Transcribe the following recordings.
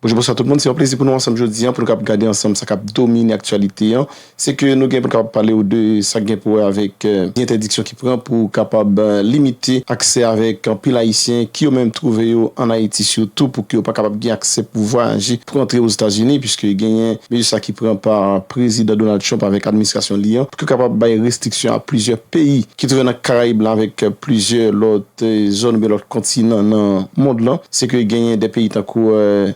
Bonjou bonswa tout moun se yon plezi pou nou ansanm jodi an pou nou kap gade ansanm sa kap domine aktyalite an se ke nou gen pou nou kapab pale ou de sak gen pou wè avèk entèdiksyon ki pran pou kapab limite aksè avèk anpil ayisyen ki yo menm twouve yo an ayiti sitou pou ke yo pa kapab gen aksè pou vwayaje pou antre ozetazini piske genyen mezi sa ki pran pa prezidan Donald Trump avèk administrasyon li an pou ke kapab bay restriksyon a plizyè peyi ki twouve nan karayib lan avèk plizyè lòt Te zòn oubyen lòt kontinan nan mond lan, se ke genyen de peyi tankou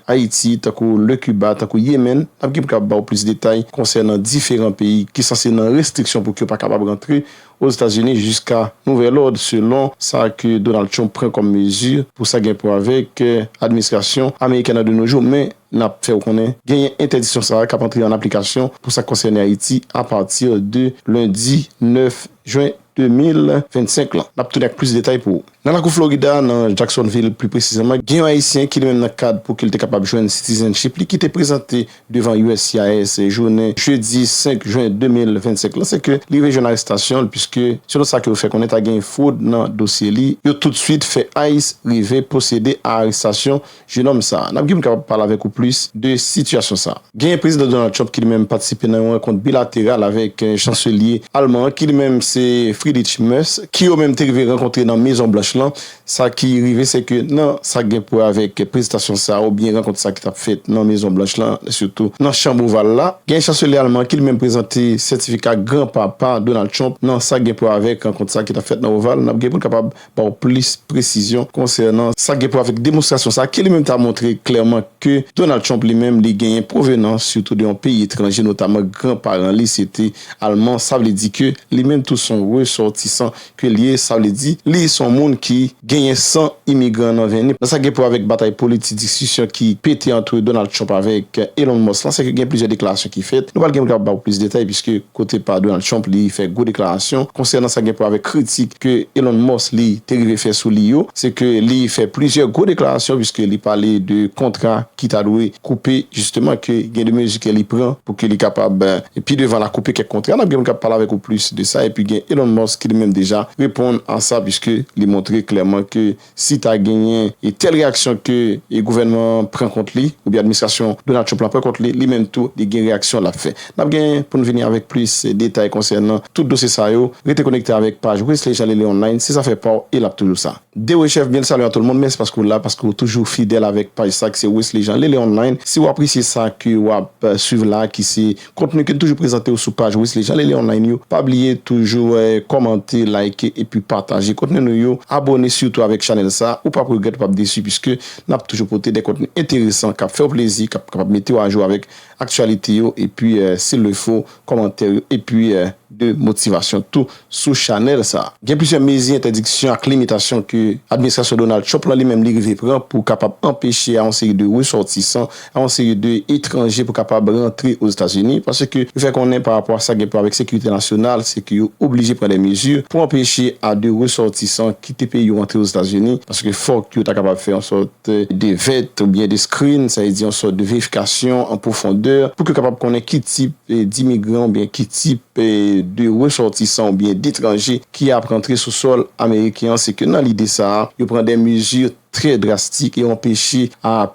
Ayiti, tankou Le Kiba, tankou Yemen, n ap gen pou kapab ba ou plis detay konsènan diferan peyi ki sanse nan restriksyon pou ke yo pa kapab rantre Ozetazini jiska nouvèl òd, selon sa ke Donald Trump pran kòm mezi pou sa gen pou avèk administrasyon amerikèn nan de no jou. Men, n ap fè ou konnen genyen entèdiksyon sa a k ap antre an aplikasyon pou sa k konsène Ayiti apati de lendi 9 jwen. 2025 lan. N ap tounen ak plis detay pou ou. Nan lakou Florida, nan Jacksonville pli presizeman, gen yon Ayisyen ki li menm nan kad pou ke l te kapab jwenn citizenship li ki te prezante devan uscis jounen jedi 5 jen 2025 lan se ke li rive jwenn arestasyon l puiske selon sa ke yo fè konnen ta gen fwod nan dosye li. Yo toutsuit fè ice rive pwosede a arestasyon Jenòm sa, n ap gin kapab pale avèk ou plis de sitiyasyon sa. Genyen Prezidan Donald Trump ki li menm patisipe nan yon rankont bilateral avèk Chanselye Alman an ki li menm se Friedrich Merz ki yo menm te rive rankontre nan Mezon Blanch lan. Sa ki rive se ke nan sa k gen pou wè avèk prezitasyon sa oubyen rankont sa ki t ap fèt nan Mezon Blanch lan sitou nan Chanb Oval la, genyen Chanselye Alman an ki li menm prezante sètifika granpa pa Donald Trump nan sa k gen pou wè avèk rankont sa ki t ap fèt nan Oval. N ap gin pou n kapab ba w plis presizyon konsènan sa k gen pou wè avèk demonstrasyon sa a, ke li menm ta montre klèman ke Donald Trump li menm li genyen pwovenans sitou de yon peyi etranje, notaman gran paran li se te Alman, sa vle di ke li menm tou s on resòtisan ke l ye, sa vle di li s on moun ki genyen san imigran nan venn li. Nan sa k gen pou wè avèk batay politik, diskisyon ki pete antre Donald Trump avèk Elon Musk lan, se ke gen plizyè deklarasyon ki fèt, nou pa l gen pou n kapab ba w plis detay, piske. kote pa Donald Trump li fè gwo deklarasyon konsènan sa gen pou wè avèk kritik ke Elon Musk li te rive fè sou li yo, se ke li fè plizyè gwo deklarasyon puiske li pale de kontra ki ta dwe koupe jisteman ke gen de mezi ke li pran pou ke li kapab pi devan la koupe kèk kontra, nap gen moun kap pale avèk ou plis de sa, epi gen Elon Musk ki li menm deja reponn a sa puiske li montre klèman ke si ta genyen e tèl reyaksyon ke e gouvènman an pran kont li oubyen administrasyon Donald Trump lan pran kont li, li menm tou li gen reyaksyon lap fè. Nap gen pou n vini avèk plis detay konsènan tout dosye sa yo, rete konekte avèk paj Wesley Jean Lele Online, se zafè pa w e lap toujou sa. Dewe chef byen l salye a tout moun mèsi paske w la paske w toujou fidèl avèk paj sa ki se Wesley Jean Lele Online si w apresye sa ke wap swiv la ki se Kontni ki toujou prezante ou sou paj Wesley Jean Lele Online yo. Pa bliye toujou kòmante, like epi pataje kontni nou yo. Abòne sitou avèk chanèl sa, ou pap regrèt ou pap desi puiske nap toujou pote de kontni enteresan kap fèw plezi, kap kapab metew ajou avèk aktyalite yo epi sil le fo kòmantè yo epi de motivasyon tou sou chanèl sa. Gen plizyè mezi entèdiksyon ak limitasyon ke administrasyon Donald Trump lan li menm li rive pran pou kapab anpeche a yon seri de resòtisan, a yon seri de etranje pou kapab rantre Ozetazini, paske yo fè konnen pa rapò a sa gen pou wè avèk sekirite nasyonal, se ke yo oblije pran de mezi pou anpeche a de resòtisan kite peyi yo antre Ozetazini, paske fòk yo ta kapab fè yon sòt. de vèt oubyen de skrin, sa vle di yon sòt de verifikasyon an pwofondè pou ke yo kapab konnen ki tip dimigran oubyen ki tip de resòtisan oubyen detranje ki ap rantre sou sòl ameriken an. Se ke nan lide sa a, yo pran de mezi trè drastik e anpeche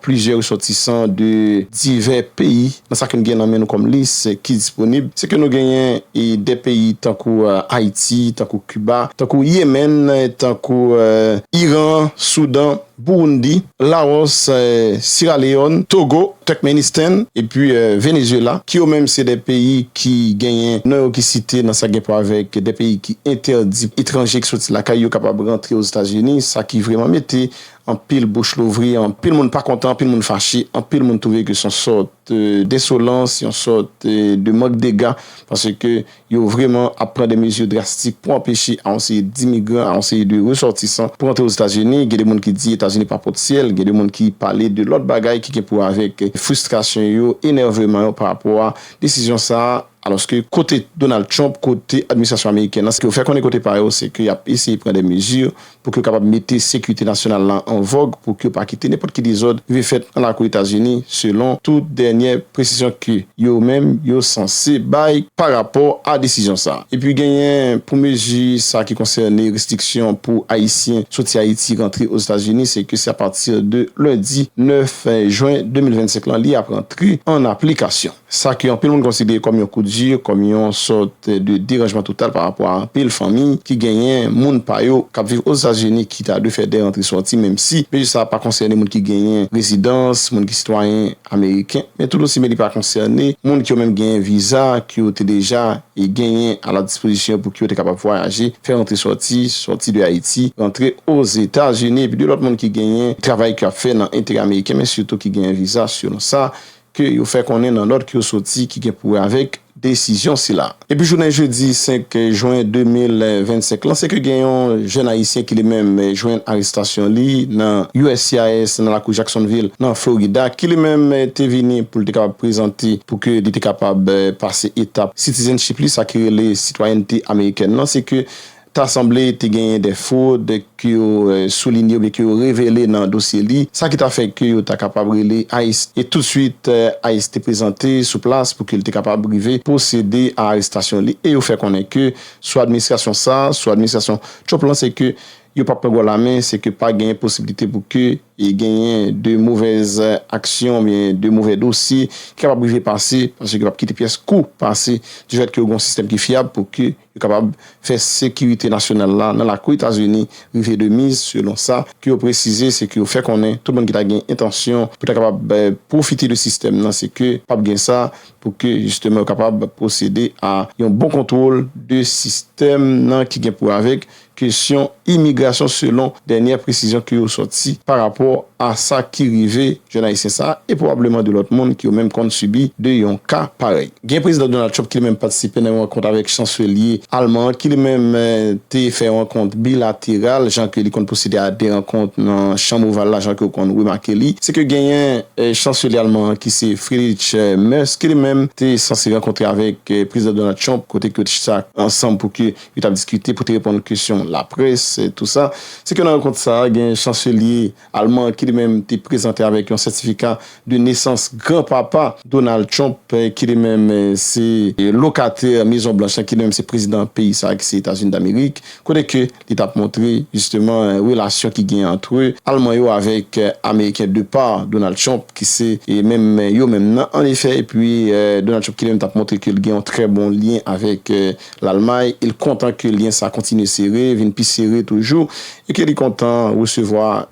plizyè resòtisan de divè peyi. Nan sa ke nou gen nan men nou kòm lis ki disponib, se ke nou genyen de peyi tankou Ayiti, tankou Kiba, tankou Yemèn, tankou Iran, Soudan. Burundi, Laos, Sierra Leone, Togo, Turkmenistan epi Venezuela ki yo menm se 2 peyi ki genyen non yo ki site nan sa gen pou avèk 2 peyi ki entèdi etranje ki soti lakay yo kapab rantre Ozetazini sa ki vreman mete anpil bouch louvri, anpil moun pa kontan, anpil moun fache, anpil moun twouve ke son sòt densolans, yon sòt de mank dega paske Yo vreman ap pran de mezi drastik pou anpeche a yon seri dimigran, a yon seri de resòtisan pou antre Ozetazini. Gen de moun ki di Etazini pa pot syèl. Gen de moun ki pale de lòt bagay ki gen pou wè avèk fristrasyon yo, enèveman yo pa rapò a desizyon sa a. Alòske kote Donald Trump, kote administrasyon amerikèn nan, sa yo fè konnen kote pa yo, se ke y ap eseye pran de mezi pou ke yo kapab mete sekirite nasyonal la an vòg pou ke yo pa kite nenpòt ki dezòd rive fèt nan lakou Etazini, selon tout dènyè presizyon ke yo menm yo sanse bay pa rapò a desizyon sa. Epi genyen pou mezi sa ki konsène restriksyon pou Ayisyen soti Ayiti rantre Ozetazini, se ke se apati de lendi 9 jen 2025 lan li ap rantre an aplikasyon. sa ke anpil moun konsidere kòm yon kout di, kòm yon sòt de deranjman total pa rapò a anpil fanmi ki genyen moun pa yo kap viv Ozetazini ki ta dwe fè de rantre sòti menm si mezi sa a pa konsène moun ki genyen rezidans, moun ki sitwayen ameriken men tout osi men li pa konsène moun ki yo menm genyen viza ke yo te deja genyen a la dispozisyon yo pou ke yo te kapab vwayaje, fè rantre sòti, sòti de Ayiti rantre Ozetazini epi de lòt moun ki genyen travay ke yo ap fè nan enterè ameriken men sitou ki genyen viza selon sa ke yo fè konnen nan nòt ke yo soti ki gen pou wè avèk desizyon sila. Depi jounen jedi 5 jwen 2025 lan se ke gen yon jèn ayisyen ki li menm jwenn arestasyon li nan uscis nan lakou Jacksonville nan Florida ki li menm te vini pou l te kapab prezante pou ke li te kapab pase etap citizenship li sa ki rele sitwayènte amerikèn lan se ke Ta sanble te genyen de fwod ke yo soulinye oubyen ke yo revele nan dosye li, sa ki ta fè ke yo ta kapab rele ice. E tousuit, ice te prezante sou plas pou ke li te kapab rive pwosede a arestasyon li. E yo fè konnen ke sou administrasyon sa, sou administrasyon Trump lan, se ke yo pa pran gò la men, se ke pa genyen posibilite pou ke genyen de movèz aksyon oubyen de movè dosye ki kapab rive pase, paske yo pap kite pyès kou pase, di fèt ke yo gen yon sistèm ki fyab pou ke. Yo kapab fè sekirite nasyonal la nan lakou Etazini rive de miz selon sa ke yo presize se ke yo fè konnen tout moun ki ta gen entansyon pou ta kapab pwofite de sistèm nan se ke pap gen sa pou ke jisteman yo kapab pwosede a yon bon kontwol de sistèm nan ki gen pou avek kesyon imigrasyon selon dènyè presizyon ke yo sòti pa rapò a sa ki rive jèn ayisyen sa a e pwobableman 2 lòt moun ki yo menm konn sibi 2 yon ka parèy. Gen Prezidan Donald Trump ki li menm patisipe nan yon rankont avèk chanselye alman an ki li menm te fè rankont bilateral jan ke li konn pwosede a 2 rankont nan chanm oval la jan ke ou konn remake li se ke genyen chanselye alman an ki se Friedrich Merz ki li menm te sanse rankontre avèk Prezidan Donald Trump kote ke yo te chita ansanm pou ke yo tap diskite pou te reponn kesyon laprès e tou sa. Se ke nan rankont sa a, gen chanselye alman ki li menm te prezante avèk yon sètifika de nesans gran papa Donald Trump ki li menm se lokatè Mezon Blanch lan, ki li menm se prezidan peyi sa a ki se Etazini Damerik, kote ke li tap montre jisteman relasyon ki gen antre alman yo avèk ameriken de pa Donald Trump ki se menm yo menm nan an efè epi Donald Trump ki li menm tap montre ke li gen yon trè bon lyen avèk Lalmay e l kontan ke lyen sa kontinye sere, vin pi sere toujou e ke li kontan resevwa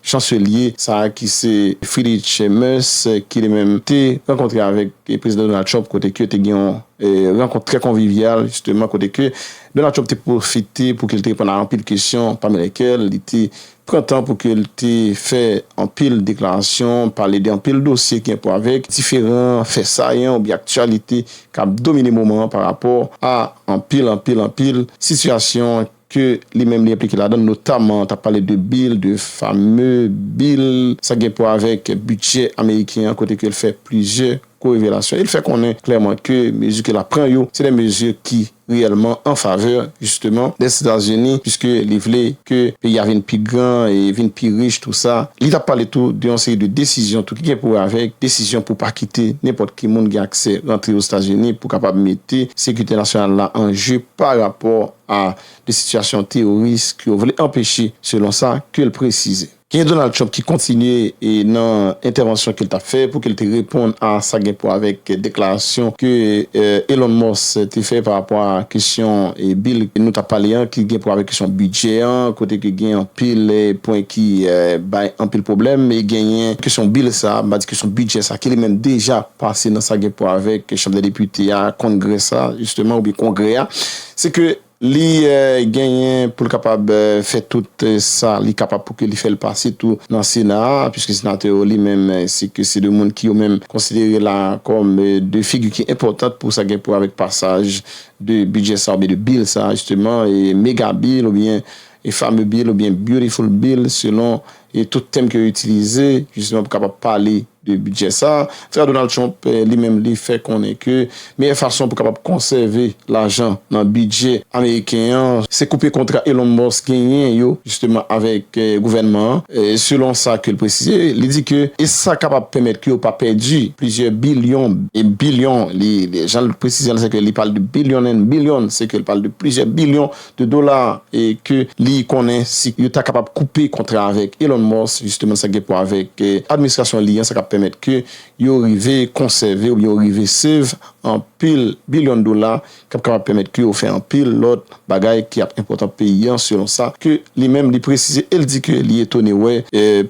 chanselye sa ki se Friedrich Merz ki li menm te rankontre avèk Prezidan Donald Trump kote ke te gen yon rankont trè konvivyal jisteman kote ke Donald Trump te pwofite pou ke li te reponn a anpil kesyon pami lèkèl li te pran tan pou ke l te fè anpil deklarasyon, pale de anpil dosye ki gen pou wè avèk diferan fè sayan oubyen aktyalite k ap domine moman an pa rapò a anpil, anpil, anpil sitiyasyon ke li menm li enplike ladan l, notaman t ap pale de bil, de fame bil sa ki gen pou wè avèk bidjè ameriken an kote ke l fè plizyè ko revelasyon e l fè konnen klèman ke mezi ke l ap pran yo se de mezi ki. reyèlman an favè jisteman Lèzetazini piske li vle ke peyi a vin pi gran e vin pi rich tou sa. Li tap pale tou de yon seri de desizyon tou ki gen pou wè avèk desizyon pou pa kite nenpòt ki moun gen aksè rantre Ozetazini pou kapab mete sekirite nasyonal la an je pa rapò a de sitiyasyon teyoris ke yo vle anpeche selon sa ke l presize. Gen Donald Trump ki kontinye nan entèvansyon ke l t ap fè pou ke l te reponn a sa gen pou avèk deklarasyon ke Elon Musk te fè pa rapò a kesyon bil nou t ap pale an ki gen pou avèk kesyon bidjè an kote ke gen anpil pwen ki bay anpil pwoblèm e genyen kesyon bil sa a, m pa di kesyon bidjè sa a ki li menm deja pase nan sa gen pou avèk Chanm dè Depite a, Congress a jisteman oubyen Kongrè a se ke. Li genyen pou l kapab fè tout sa li kapab pou ke li fè l pase tou nan Sena a, puiske Senatè yo li menm se ke se 2 moun ki yo menm konsidere la kòm 2 figi ki enpòtant pou sa gen pou wè avèk pasaj de bidjè sa oubyen de bil sa jisteman, mega bil oubyen fame bil oubyen beautiful bil selon e tout tèm ke yo itilize jisteman pou kapab pale de bidjè sa a, antuka Donald Trump li menm li fè konnen ke meyè fason pou kapab konsève lajan nan bidjè ameriken an se koupe kontra Elon Musk genyen yo jisteman avèk gouvènman an, selon sa ke l presize, li di ke e sa kapab pèmèt ke yo pa pèdi plizyè bilyon e bilyon, li jan l presize l se ke li pale de billion and billion, se ke l pale de plizyè bilyon. de dola e ke li konnen si yo ta kapab koupe kontra avèk Elon Musk, jisteman sa gen pou wè avèk administrasyon li an, sa ka pèmèt ke yo rive konsève oubyen yo rive save anpil bilyon dola k ap kapab pèmèt ke yo fè anpil lòt bagay ki ap enpòtan pou peyi an, selon sa ke li menm li presize e li di ke li etone wè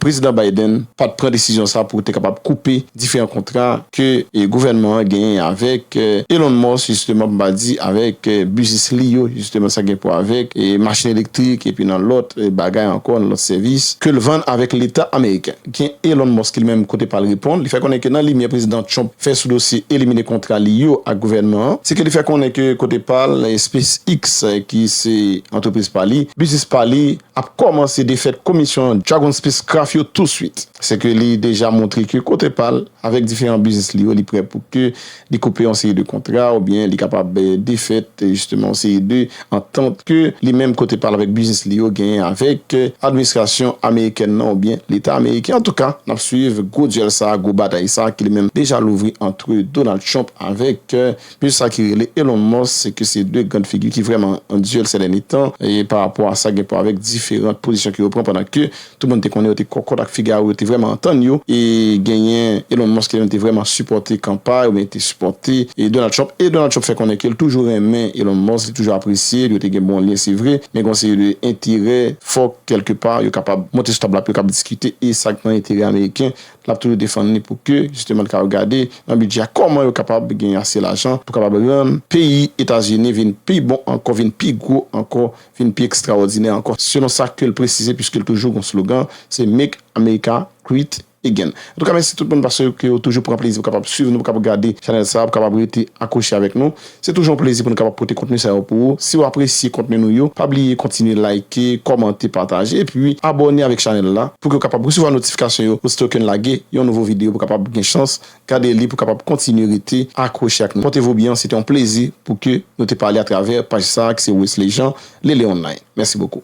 Prezidan Biden pa t pran desizyon sa pou te kapab koupe diferan kontra. ke gouvènman an genyen avèk Elon Musk jisteman pou m pa di avèk biznis li yo jisteman sa gen pou wè avèk machin elektrik epi nan lòt bagay ankò nan lòt sèvis ke l vann avèk leta ameriken. Gen Elon Musk ki li menm kote pa l reponn li fè konnen ke nan limyè prezidan Trump fè sou dosye elimine kontra li yo ak gouvènman an se ke li fè konnen ke kote pa l SpaceX ki se antrepriz pa li biznis pa li ap kòmanse defèt komisyon Dragon Spacecraft yo touswit se ke li deja montre ke kote pa l. Avèk diferan biznis li yo, li prè pou ke li koupe yon seri de kontra ou byen li kapab defèt jisteman yon seri de antant ke li menm kote pa l avèk biznis li yo genyen avèk administrasyon amerikèn nan ou byen leta ameriken. Antouka, n ap swiv gwo dyèl sa a, gwo batay sa a ki li menm deja louvri antre Donald Trump avèk Plis sa ki rele Elon Musk se ke se 2 grand figi ki vrèman an duel sè dènye tan e pa rapò a sa gen pou avèk diferant pozisyon ke yo pran pandan ke tout moun te konnen yo te kòkòt ak Figaro yo te vrèman antann yo e genyen Elon Musk ki li menm te vrèman sipòte kanpay oubyen te sipòte Donald Trump e Donald Trump fè konnen ke li toujou renmen Elon Musk li toujou apresye l yo te gen bon lyen se vre men gen yon seri de enterè fòk kèlke pa yo kapab monte sou tab la pou yo kab diskite e sa k nan enterè ameriken L ap toujou defann li pou ke jisteman li kapab gade nan bidjè a kòman yo kapab gen ase lajan pou kapab rann peyi Etazini vin pi bon ankò, vin pi gwo ankò, vin pi ekstrawòdinè ankò, selon sa ke l presize piske l toujou gen yon slogan se Make America Great Again. Antouka mèsi tout moun paske yo toujou pran plezi pou kapab swiv nou, pou kapab gade chanèl sa a, pou kapab rete akwoche avèk nou. Se toujou yon plezi pou nou kapab pote kontni sa yo pou ou. Si ou apresye kontni nou yo, pa bliye kontinye like, kòmante, pataje epi abòne avèk chanèl la pouki ou kapab resevwa notifikasyon yo osito ke n lage yon nouvo videyo pou kapab gen chans gade li pou kapab kontinye rete akwoche ak nou. Pòte vou byen, se te yon plezi pouki nou te pale atravè paj sa ki se Wesley Jean, Lele Online. Mèsi bokou.